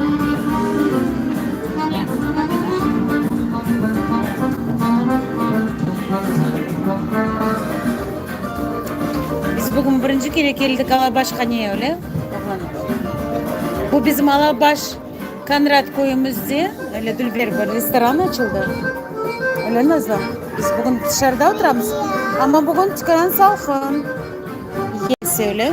Biz bugün birinci kere keldik Alabaşhaneye, öyle? Bu bizim Alabaş Konrad köyümüzde, öyle Dülber bir restoran açıldı. Öyle Nazlı? Biz bugün dışarıda oturamız, ama bugün tükân salqın. Yes, öyle.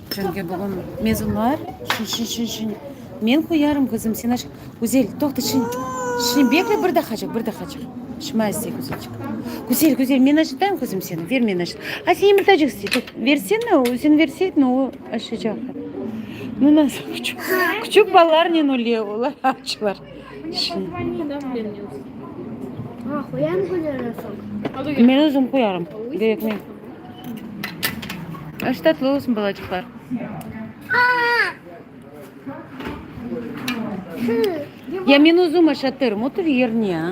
Çünki bugün mezunlar şiñ, şiñ, şiñ, şiñ. Men qoyarım qızım, sen aç. Güzel, toqta, şiñ, şiñ, bekle bir daqacıq, bir daqacıq. Şıma istey, Güzelçik. Güzel, Güzel, men aşatayım qızım seni, ber men aşat. A, sen yımırtacıq istey, tut, versene, o, sen verseydin, o aşacaq. Ну, nasıl küçük, küçük balalarnen öyle olar açlar. Şiñ. Ha, qoyarım qoyarım. Men özüm qoyarım, gerekmey. Aş tatlı olsun balacıqlar. Ya men özüm aşatırım, otur yerine.